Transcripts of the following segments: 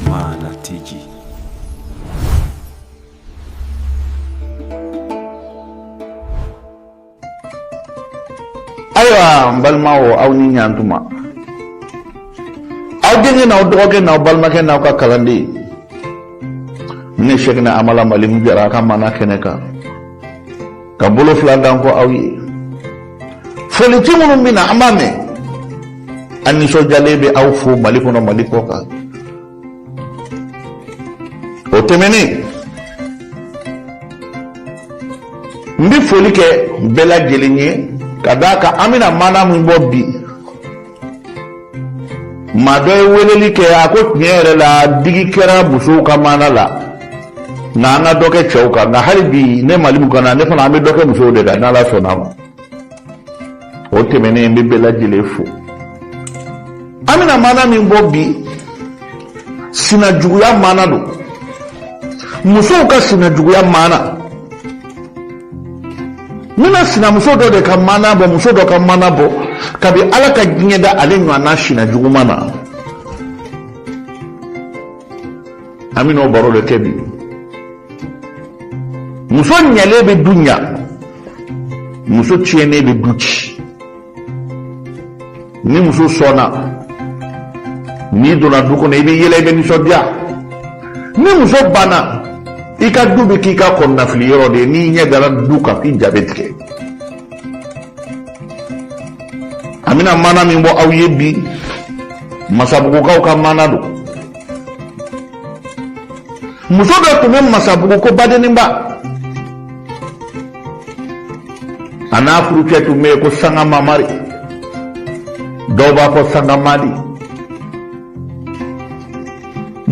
Mana Tiji. ayiwa n balimaw aw ni ɲantuma aw denkɛ n'aw dɔgɔkɛ n'aw balimakɛ n'aw ka kalanden ne sɛkina amala malimu jara a ka maana kɛnɛ kan ka bolo fila da n kɔ aw ye folici minnu bɛ na an b'a mɛn an nisɔndiyalen bɛ aw fo mali kɔnɔ mali kɔ kan o tɛmɛnen n bɛ foli kɛ bɛɛ lajɛlen ye ka d'a kan an bɛna maana min bɔ bi maa dɔ ye weleli kɛ a ko tiɲɛ yɛrɛ la digi kɛra musow ka maana la nka an ka dɔ kɛ cɛw kan nka hali bi ne malimu kan na ne fana an bɛ dɔ kɛ musow de kan n'ala sɔnna ma o tɛmɛnen n bɛ bɛɛ lajɛlen fo an bɛna maana min bɔ bi sinajuguya maana don musow ka sinajuguya maana n bɛna sinamuso dɔ de ka maana bɔ muso dɔ ka maana bɔ kabi ala ka diɲɛ da ale ɲɔgɔnna sina jugu ma na an bɛn'o baro de kɛ bi muso ɲɛlen bɛ du ɲa muso tiɲɛnen bɛ du ci ni muso sɔnna n'i donna du kɔnɔ i bɛ yɛlɛ i bɛ nisɔndiya ni muso banna i ka du bɛ k'i ka kɔnɔnafili yɔrɔ de ye n'i ɲɛ dara du kan f'i ja bɛ tigɛ an bɛna maana min bɔ aw ye bi masabugukaw ka maana don muso dɔ tun bɛ masabugu ko badeninba a n'a furucɛ tun bɛ yen ko sanga mamari dɔw b'a fɔ sanga madi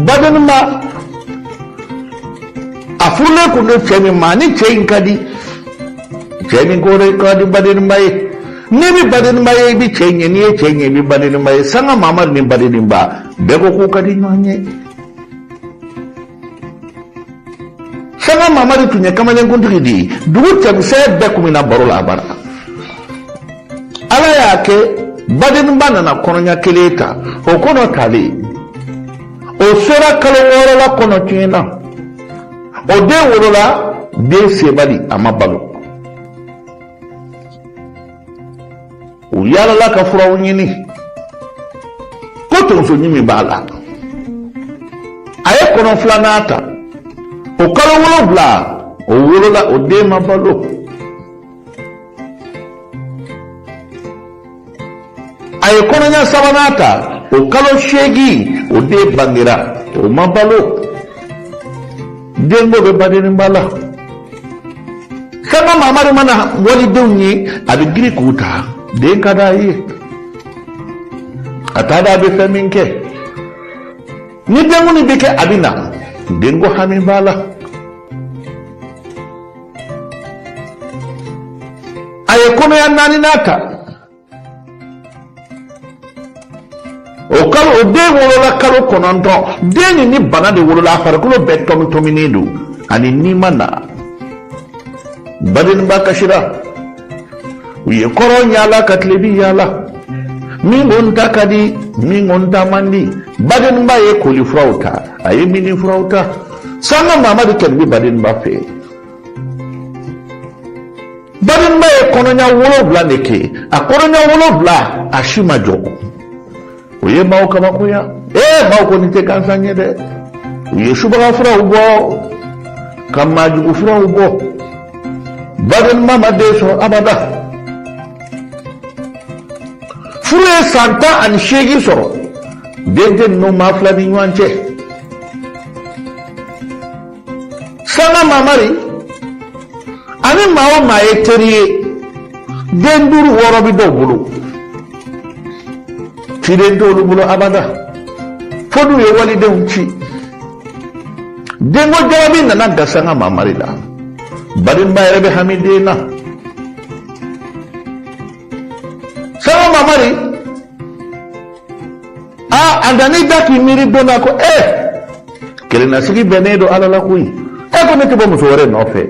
badeninba a furulen tun don cɛ min ma ni cɛ in ka di cɛ nin ko ka di badeninba ye n'i bɛ badeninba ye i bɛ cɛ ye n'i ye cɛ ye i bɛ badeninba ye sanga mamari ni badeninba bɛɛ ko k'u ka di ɲɔgɔn ye sanga mamari tun ye kamalenkuntigi de ye dugu cɛmisɛn bɛɛ kun bɛ na baro la a bara ala y'a kɛ badeninba nana kɔnɔɲa kelen ta o kɔnɔ talen o sera kalo wɔɔrɔ la kɔnɔ tiɲɛna o den wolola den sebali a ma balo u yalala ka furaw ɲini ko tonsoɲimi b'a la a ye kɔnɔ filanan ta o kalo wolonwula o wolola o den ma balo a ye kɔnɔɲɛ sabanan ta o kalo seegin o den bangera o ma balo denko bɛ badeninba la sanga mamari mana walidenw ye a bɛ girin k'u ta den ka d'a ye a t'a dɔn a bɛ fɛn min kɛ ni denkundi bɛ kɛ a bɛ na denko hami b'a la a ye kɔnɔya naaninan ta o kalo o den wolola kalo kɔnɔntɔn den nin ni bana de wolola a farikolo bɛɛ tɔmitɔminen don a ni ni ma na badeninba kasira u ye kɔrɔn yaala ka tilebi yaala min ko n ta ka di min ko n ta man di badeninba ye kolifuraw ta a ye minifuraw ta sanga mamari kɔni bɛ badeninba fɛ badeninba ye kɔnɔɲa wolonwula de kɛ a kɔnɔɲa wolonwula a si ma jɔ o ye maaw kabakoya ee maaw kɔni tɛ gansan ye dɛ u ye subaga furaw bɔ ka maajugu furaw bɔ badeninba ma den sɔrɔ abada furu ye san tan ani seegin sɔrɔ den tɛ ninnu maa fila ni ɲɔgɔn cɛ sanga mamari ani maa o maa ye teri ye den duuru wɔɔrɔ bɛ dɔw bolo ciden t'olu bolo abada fo n'u ye walidenw ci denko jarabi nana gan sanga mamari la badeninba yɛrɛ bɛ hami den na sanga mamari a a nana i da k'i miiri don na ko e kelennasigi bɛnnen don ala la koyi e ko ne tɛ bɔ muso wɛrɛ nɔfɛ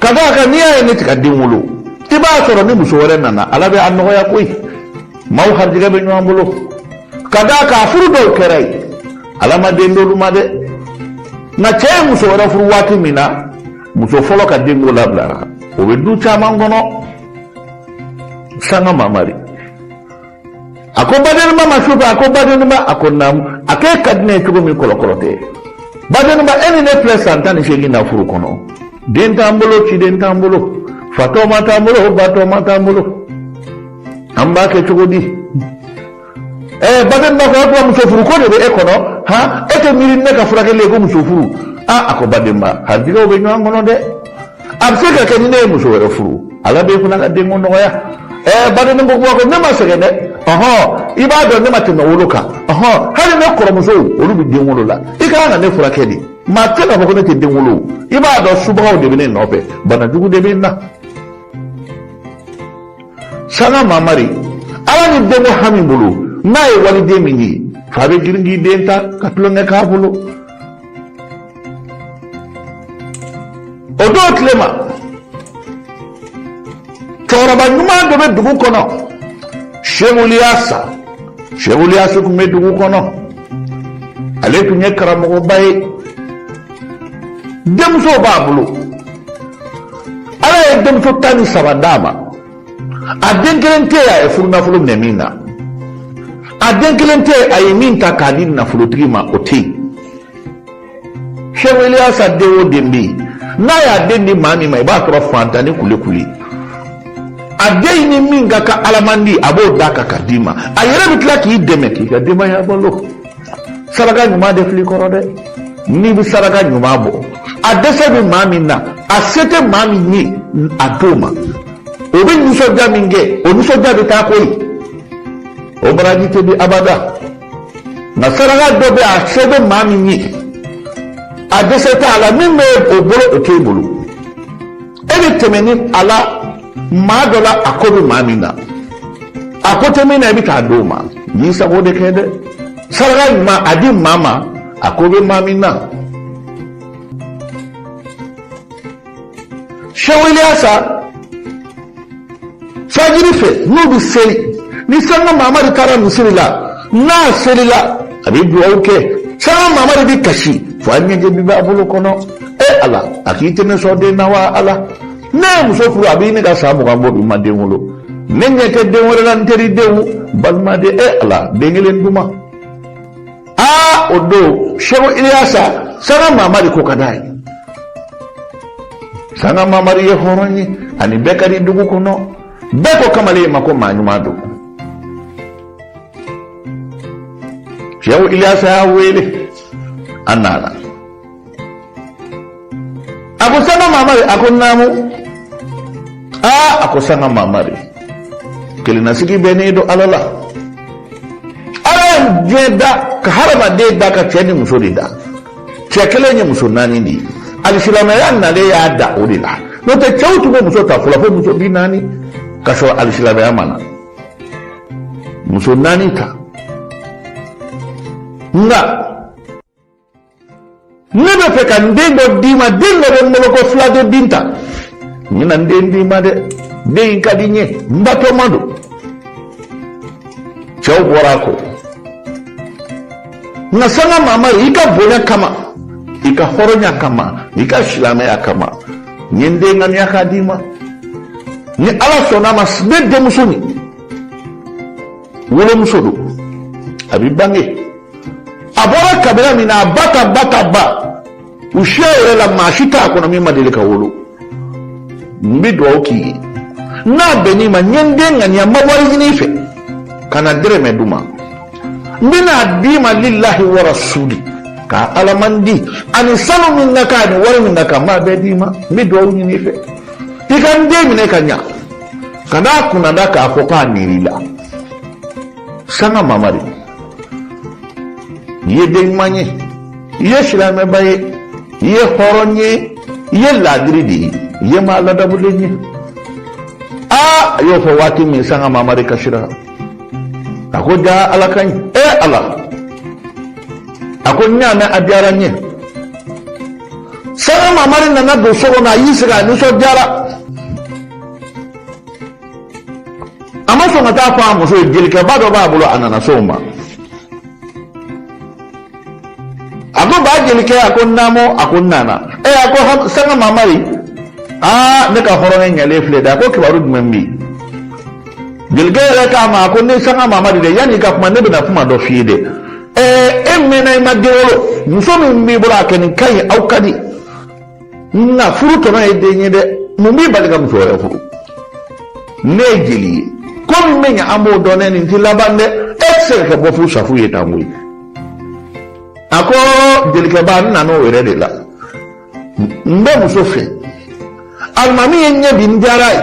ka d'a kan n'i y'a ye ne tɛ ka den wolo i b'a sɔrɔ ni muso wɛrɛ nana ala bɛ a nɔgɔya koyi maaw harijɛgɛ bɛ ɲɔgɔn bolo ka d'a kan a furu dɔw kɛra yen ala ma den d'olu ma dɛ nka cɛ ye muso wɛrɛ furu waati min na muso fɔlɔ ka denko labilara o bɛ du caman kɔnɔ sanga mamari a ko badeninba ma su fɛ a ko badeninba a ko naamu a k'e ka di ne ye cogo min kɔlɔkɔlɔ tɛ badeninba e ni ne filɛ san tan ni seegin na furu kɔnɔ den t'an bolo ciden t'an bolo fatɔma t'an bolo batɔma t'an bolo an b'a kɛ cogo di ɛɛ badeninba ko a ko muso furu ko de bɛ e kɔnɔ han e tɛ miiri ne ka furakɛli ye ko muso furu aa a ko badeninba harijɛgɛw bɛ ɲɔgɔn kɔnɔ dɛ a bɛ se ka kɛ ni ne ye muso wɛrɛ furu ala b'e fana ka denko nɔgɔya ɛɛ badenni ko kuma ko ne ma sɛgɛn dɛ ɔhɔn i b'a dɔn ne ma tɛmɛ wolo kan ɔhɔn hali ne kɔrɔmusow olu bɛ den wolo la i ka kan ka ne furakɛ de maa tɛ k'a fɔ ko ne tɛ den wolo i b'a dɔn subagaw de bɛ ne nɔfɛ bana jugu de bɛ n na sanga mamari ala ni denko hami bolo n'a ye waliden min ye f'a bɛ girin k'i den ta ka tulonkɛ k'a bolo o don tile ma cɛkɔrɔba ɲuman dɔ bɛ dugu kɔnɔ shehu iliyasa shehu iliyasa tun bɛ dugu kɔnɔ ale tun ye karamɔgɔba ye denmusow b'a bolo ala ye denmuso tan ni saba d'a ma a den kelen tɛ yen a ye furunafolo minɛ min na a den kelen tɛ yen a ye min ta k'a di nafolotigi ma o tɛ yen shehu iliyasa den o den bɛ yen n'a y'a den di maa min ma i b'a sɔrɔ fantan ni kulekule a den ni min ka kan alamandi a b'o d'a kan ka d'i ma a yɛrɛ bɛ tila k'i dɛmɛ k'i ka denbaya balo saraka ɲuman de filɛ kɔrɔ dɛ n'i bɛ saraka ɲuman bɔ a dɛsɛ bɛ maa min na a se tɛ maa min ye a d'o ma o bɛ nisɔndiya min kɛ o nisɔndiya bɛ taa koyi o baraji tɛ di abada. nka saraka dɔ bɛ a se bɛ maa min ye a dɛsɛ t'a la min bɛ o bolo o t'e bolo e bɛ tɛmɛ ni ala maa dɔ la a ko bɛ maa min na a ko tɛ min na i bɛ t'a d'o ma i y'i sago de kɛ dɛ saraka ɲuman a di maa ma a ko bɛ maa min na. Shehu iliyasa fajiri fɛ n'u bɛ seli ni sanga mamari taara misiri la n'a selila a bɛ dugawu kɛ sanga mamari bɛ kasi fo a ɲɛji bɛ bɔn a bolo kɔnɔ e ala a k'i tɛ ne sɔn den na wa ala ne ye muso furu a bɛ ɲini ka san mugan bɔ bi n ma den wolo ne ɲɛ tɛ den wɛrɛ la n teri denw balimaden e ala den kelen duman a o don shehu iliyasa sanga mamari ko ka d'a ye sanga mamari ye hɔrɔn ye a ni bɛɛ ka di dugu kɔnɔ bɛɛ ko kamalen ma ko maa ɲuman don shehu iliyasa y'a wele a nana a ko sanga mamari a ko naamu ah, a ko sanga mamari kelennasigi bɛnnen don ala la ala ye diɲɛ da ka hadamaden da ka cɛ ni muso de da cɛ kelen ye muso naani de ye alisilamɛya nalen y'a da o de la n'o tɛ cɛw tun bɛ muso ta fɔlɔ fo muso bi naani ka sɔrɔ alisilamɛya ma na muso naani ta nka ne bɛ fɛ ka n den dɔ d'i ma den dɔ bɛ n bolo ko filaden binta n bɛna n den d'i ma dɛ den in ka di n ye n batɔma don cɛw bɔra a kɔ nka sanga mamari i ka bonya kama i ka hɔrɔnya kama i ka silamɛya kama n ye n den ŋaniya k'a d'i ma ni ala sɔnna a ma ne denmuso nin wolomuso don a bɛ bange a bɔra kabila min na a ba ta ba ta ba u siya yɛrɛ la maa si t'a kɔnɔ min ma deli ka wolo n bɛ dugawu k'i ye n'a bɛnn'i ma n ye n den ŋaniya n ma wari ɲini i fɛ kana dɛrɛmɛ di n ma n bɛna a d'i ma lilahi wa rasuli ka ala man di ani sanu min ka kan ani wari min ka kan n b'a bɛɛ d'i ma n bɛ dugawu ɲini i fɛ i ka n den minɛ ka ɲa kana a kunnada k'a fɔ k'a nir'i la sanga mamari i ye den ɲuman ye i ye silamɛba ye i ye hɔrɔn ye i ye laadiri de ye i ye maa ladamulen ye aa a y'o fɔ waati min sanga mamari kasira a ko jaa ala ka ɲi e ala a ko n y'a mɛn a diyara n ye sanga mamari nana don so kɔnɔ a y'i sigi a nisɔndiyara a ma sɔn ka taa fɔ a muso ye jelikɛba dɔ b'a bolo a nana s'o ma a ko ba jelikɛ a ko naamu a ko n nana ɛ a ko sanga mamari aa ne ka hɔrɔnkɛ ɲalen filɛ dɛ a ko kibaru jumɛn bɛ yen jelikɛ yɛrɛ k'a ma a ko ne sanga mamari dɛ yanni i ka kuma ne bɛna kuma dɔ f'i ye dɛ ɛɛ e mɛnna i ma den wolo muso min b'i bolo a kɛ nin ka ɲi aw ka di nka furu tɔnɔ ye den ye dɛ mun b'i bali ka muso wɛrɛ furu ne ye jeli ye ko min bɛ ɲɛ an b'o dɔn ne nin ti laban dɛ e tɛ se ka kɛ bɔfu safu ye tan koyi a ko jelikɛba n nana o yɛrɛ de la n bɛ muso fɛ alimami ye n ye bi n diyara a ye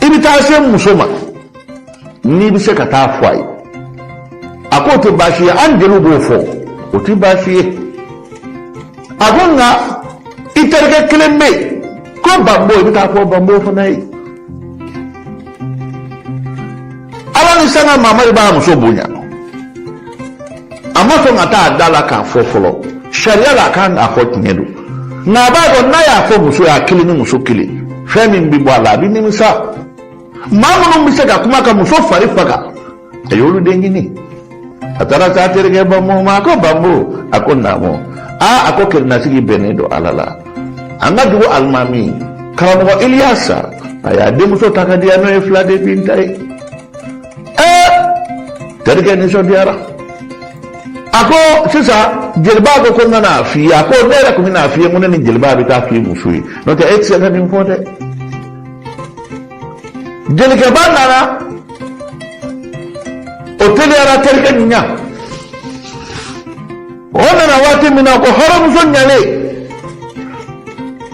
i bɛ taa se muso ma n'i bɛ se ka taa fɔ a ye a k'o tɛ baasi ye an jeliw b'o fɔ o tɛ baasi ye a ko nka i terikɛ kelen bɛ yen ko banbo i bɛ taa fɔ banbo fana ye ala ni sanga mamari b'a muso bonya a ma sɔn ka taa a da la k'a fɔ fɔlɔ sariya la a kan k'a fɔ tiɲɛ don nka a b'a dɔn n'a y'a fɔ muso ye a kelen ni muso kelen fɛn min bɛ bɔ a la a bɛ nimisa maa minnu bɛ se ka kuma ka muso fari faga a y'olu de ɲini a taara s'a terikɛ banba ma a ko banba a ko naamu aa a ko kelennasigi bɛnnen don ala la an ka dugu alimami karamɔgɔ iliyasa a y'a denmuso ta ka diya n'o ye fila den binta ye ɛɛ terikɛ nisɔndiyara a ko sisan jeliba ko ko n ka n'a f'i ye a ko ne yɛrɛ tun bɛ n'a f'i ye ko ne ni jeliba bɛ taa f'i muso ye n'o tɛ e tɛ se ka nin fɔ dɛ jelikɛba nana o teliyara terikɛ nin ɲa o nana waati min na ko hɔrɔnmuso ɲalen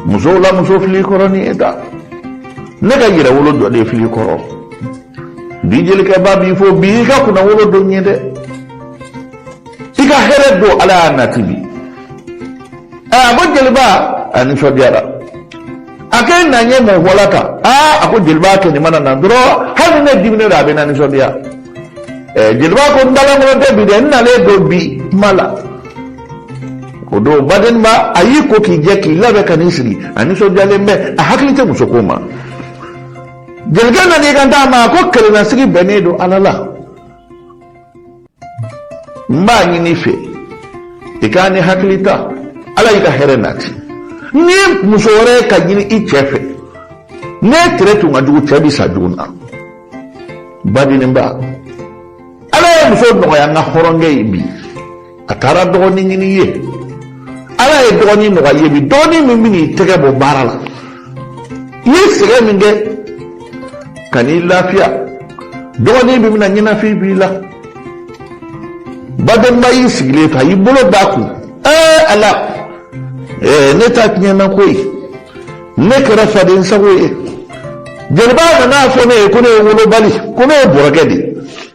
musow la muso fili kɔrɔ ni e ta ne ka yɛrɛwolo dɔ de fili kɔrɔ bi jelikɛba b'i fo bi i ka kunnawolo don ye dɛ i ka hɛrɛ don ala y'a nati bi a ko jeliba a nisɔndiyara a ko e na n ye mun fɔla tan aa a ko jeliba kɛ nin mana na dɔrɔn hali ne diminen don a bɛ na nisɔndiya ɛɛ eh, jeliba ko n dalankolon tɛ bi dɛ n nalen don bi kuma la o don badenba a y'i ko k'i jɛ k'i labɛn ka n'i sigi a nisɔndiyalen bɛ a hakili tɛ muso ko ma jelikɛ nan'i kant'a ma a ko kelennasigi bɛnnen don ala la n b'a ɲin'i fɛ i k'a ni hakili ta ala y'i ka hɛrɛ nati ni muso wɛrɛ ka ɲini i cɛ fɛ n'e tere tun ka jugu cɛ bi sa jugu na badenba ala ye muso nɔgɔya n ka hɔrɔnkɛ ye bi a taara dɔgɔnin ɲini ye ala ye dɔgɔnin nɔgɔya ye bi dɔgɔnin min bɛ n'i tɛgɛ bɔ baara la ye sɛgɛn min kɛ ka n'i lafiya dɔgɔnin min bɛna ɲɛnafin b'i la badenba y'i sigilen to a y'i bolo d'a kun ɛɛ ala ɛɛ ne ta tiɲɛna koyi ne kɛra faden sago ye jeliba nan'a fɔ ne ye ko ne ye wolobali ko ne ye bɔrɔgɛ de ye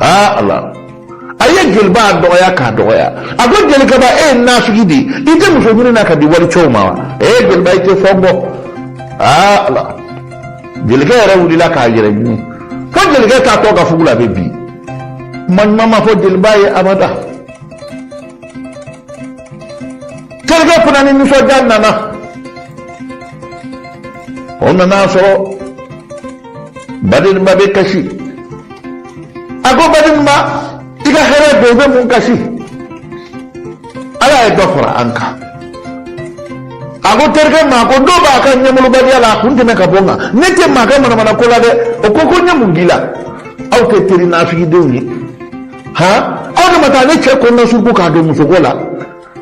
aa ala a ye jeliba dɔgɔya k'a dɔgɔya a ko jelikɛba e ye nafigi di i tɛ muso ɲini na k'a di walicɛw ma wa ee jeliba i tɛ fɛn bɔ aa ala jelikɛ yɛrɛ wulila k'a yɛrɛ ɲini fo jelikɛ taatɔ ka fugula bɛ bin kuma ɲuman ma fɔ jeliba ye abada terikɛ fana ni nisɔndiya nana o nan'a sɔrɔ badenba bɛ kasi a ko badenba i ka hɛrɛ don i bɛ mun kasi ala ye dɔ fara an kan a ko terikɛ ma ko dɔ b'a ka ɲɛmalobaliya la a kun tɛmɛ ka bɔ n kan ne tɛ maa kɛ manamana ko la dɛ o ko ko n ye mun k'i la aw tɛ teri nafigidenw ye han aw de ma taa ne cɛ kɔnɔnasuruku k'a don musoko la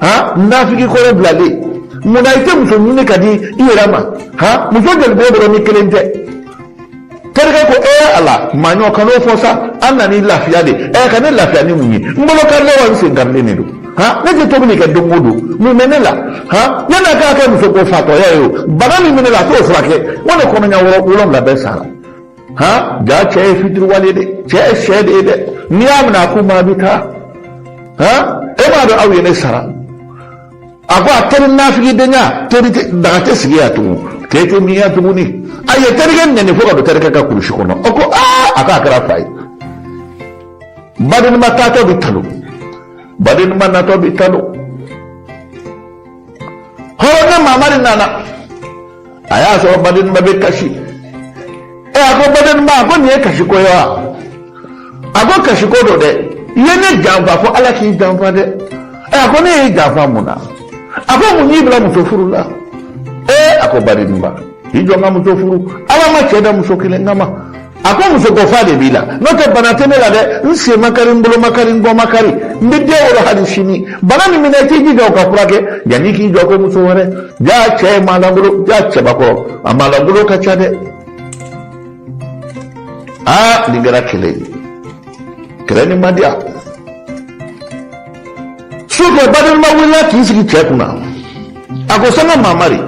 ha nafigi kɔrɔ bilalen munna i tɛ muso ɲini ka di i yɛrɛ ma ha muso jɛli b'e bolo ni kelen tɛ terikɛ ko ee ala maɲɔ kan'o fɔ sa an nan'i lafiya de ɛ ka ne lafiya ni mun ye n bolo karilen wa n sen karilen de don ha ne tɛ tobili kɛ don o don mun bɛ ne la ha e na k'a kɛ muso ko fatɔya ye o bana min bɛ ne la a t'o furakɛ wa ne kɔnɔɲɛ wɔɔrɔ wolonwula bɛɛ sara ha jaa cɛ ye fitiriwale de cɛ ye shɛ de ye dɛ n'i y'a minɛ a ku ma a bɛ taa ha e m'a dɔn aw ye ne sara a ko a teri nafigidenya teri daga tɛ sigi yan tugun te tɛ min yan tuguni a ye terikɛ nɛni fo ka don terikɛ ka kurusi kɔnɔ o ko aa a k'a kɛra fa ye badenma taatɔ bɛ talon badenma natɔ bɛ talon hɔrɔn ne mamari nana a y'a sɔrɔ badenba bɛ kasi ɛ a ko badenba a ko nin ye kasi ko ye wa a ko kasi ko don dɛ i ye ne janfa fo ala k'i janfa dɛ ɛ a ko ne y'i janfa mun na a ko mun y'i bila muso furu la ɛ a ko badenba i jɔ n ka muso furu ala ma cɛ da muso kelen kama a ko muso ko fa de b'i la n'o tɛ bana tɛ ne la dɛ n sen ma kari n bolo ma kari n kɔ ma kari n bɛ den wolo hali sini bana min minɛ i t'i jija o ka furakɛ yanni k'i jɔ ko muso wɛrɛ jaa cɛ ye maalankolo jaa cɛbakɔrɔ a maalankolo ka ca dɛ aa nin kɛra kɛlɛ ye kɛlɛ nin ma diya su ko badenba wulila k'i sigi cɛ kunna a ko sanga mamari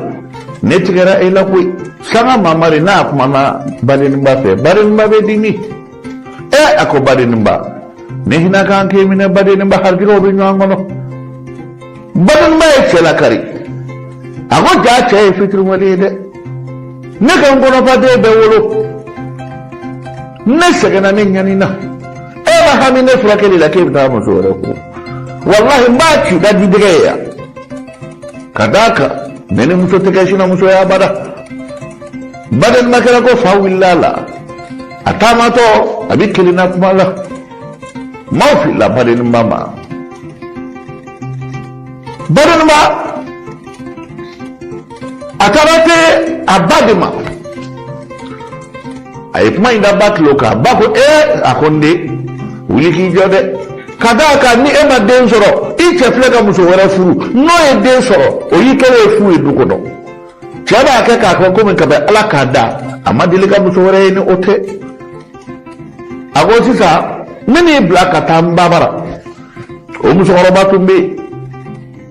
ne tigɛra e la koyi sanga mamari n'a kumana badenba fɛ badenba bɛ dimi ɛ a ko badenba ne hinɛ kan k'i minɛ badenba harijɛgɛw bɛ ɲɔgɔn kɔnɔ badenba ye cɛ lakari a ko jaa cɛ ye fitiriwale ye dɛ ne ka n kɔnɔfaden bɛɛ wolo ne sɛgɛnna ne ɲanina e ma hami ne furakɛli la k'e bɛ taa muso wɛrɛ ko walahi n b'a ci ka di dɛgɛ ye yan ka d'a kan ne ni muso tɛ kɛ sinamuso ye abada badenba kɛra ko fa wulila a la a taamatɔ a bɛ kelenna kuma la maaw filila badenba ma badenba a taara se a ba de ma a ye kuma in da ba tulo kan ba ko ee eh, a ko n den wuli k'i jɔ dɛ ka d'a kan ni e ma den sɔrɔ i cɛ filɛ ka muso wɛrɛ furu n'o ye den sɔrɔ o y'i kɛlen ye fu ye du kɔnɔ cɛ b'a kɛ k'a kɛ komi kabi ala k'a da a ma deli ka muso wɛrɛ ye ni o tɛ a ko sisan ne n'i bila ka taa n ba bara o musokɔrɔba tun bɛ yen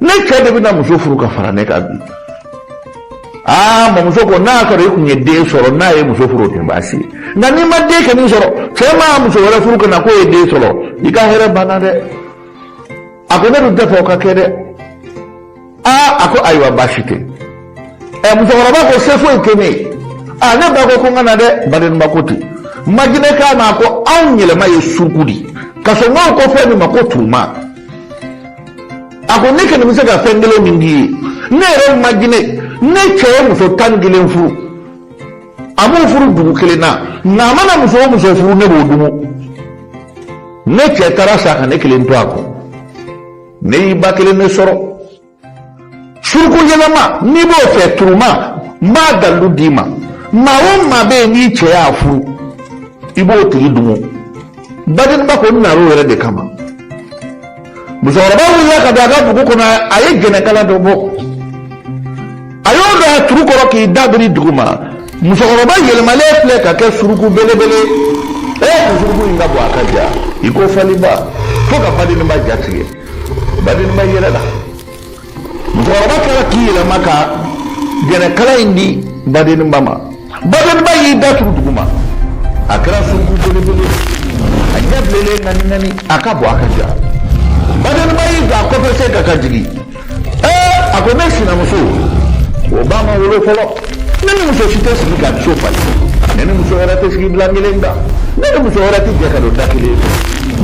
ne cɛ de bɛna muso furu ka fara ne kan bi aa mamuso ko n'a sɔrɔ i tun ye den sɔrɔ n'a ye muso furu o tɛ baasi ye nka n'i ma den kelen sɔrɔ cɛ mana muso wɛrɛ furu ka na k'o ye den sɔrɔ i ka hɛrɛ banna dɛ a ko ne dun t'a fɛ o ka kɛ dɛ aa a ko ayiwa baasi tɛ ɛ musokɔrɔba ko se foyi tɛ ne ye a ne ba ko ko n ka na dɛ badenba ko ten majinɛ k'a ma ko anw yɛlɛma ye suruku de ka sɔrɔ n'aw ko fɛn min ma ko turuma a ko ne kɔni bɛ se ka fɛn kelen min k'i ye ne yɛrɛ majinɛ ne cɛ ye muso tan ni kelen furu a m'u furu dugu kelen na nka a mana muso o muso furu ne b'o dumu ne cɛ taara sa ka ne kelen to a kɔ ne y'i ba kelen de sɔrɔ suruku yɛlɛma n'i b'o fɛ turuma n b'a dalilu d'i ma maa o maa bɛ yen n'i cɛ y'a furu i b'o tigi dumu badenba ko n nana o yɛrɛ de kama musokɔrɔba wulila ka don a ka bugu kɔnɔ a ye jɛnɛkala dɔ bɔ a y'o don a turu kɔrɔ k'i da biri dugu ma musokɔrɔba yɛlɛmalen filɛ ka kɛ suruku belebele ee suruku in ka bon a ka jan i ko faliba fo ka badenba ja tigɛ badenba yɛlɛla musokɔrɔba tilala k'i yɛlɛma ka jɛnɛkala in di badenba ma badenba y'i da turu duguma a kɛra suruku belebele a ɲɛ bilenlen ŋaniŋani a ka bon a ka jan badenba y'i jɔ a kɔfɛ sen kan ka jigin ee a ko ne sinamuso o ba ma wolo fɔlɔ ne ni muso si tɛ sigi ka so falen ne ni muso wɛrɛ tɛ sigi bilan kelen kan ne ni muso wɛrɛ tɛ jɛ ka don da kelen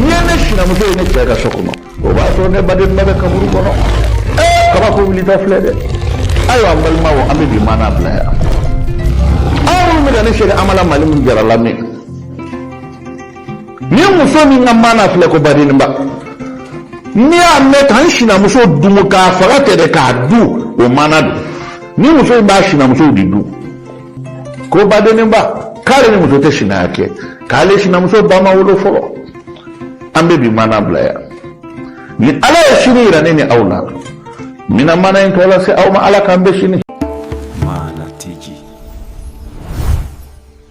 n'i ye ne sinamuso ye ne cɛ ka so kɔnɔ o b'a sɔrɔ ne badenba bɛ kaburu kɔnɔ ee kabako wulita filɛ dɛ ayiwa an balimaw an bɛ bi maana bila yan aw minnu bɛ ka ne sɛgɛn an ma la mali min jarala min ni muso min ka maana filɛ ko badenba n'i y'a mɛn ka n sinamuso dumu k'a faga tɛ dɛ k'a dun o maana don ni muso min b'a sinamuso de dun ko badenba k'ale ni muso tɛ sinaya kɛ k'ale sinamuso ba ma wolo fɔlɔ an bɛ bi maana bila yan ni ala ye sini yira ne ni aw la n bɛna maana in tɔ lase aw ma ala k'an bɛn sini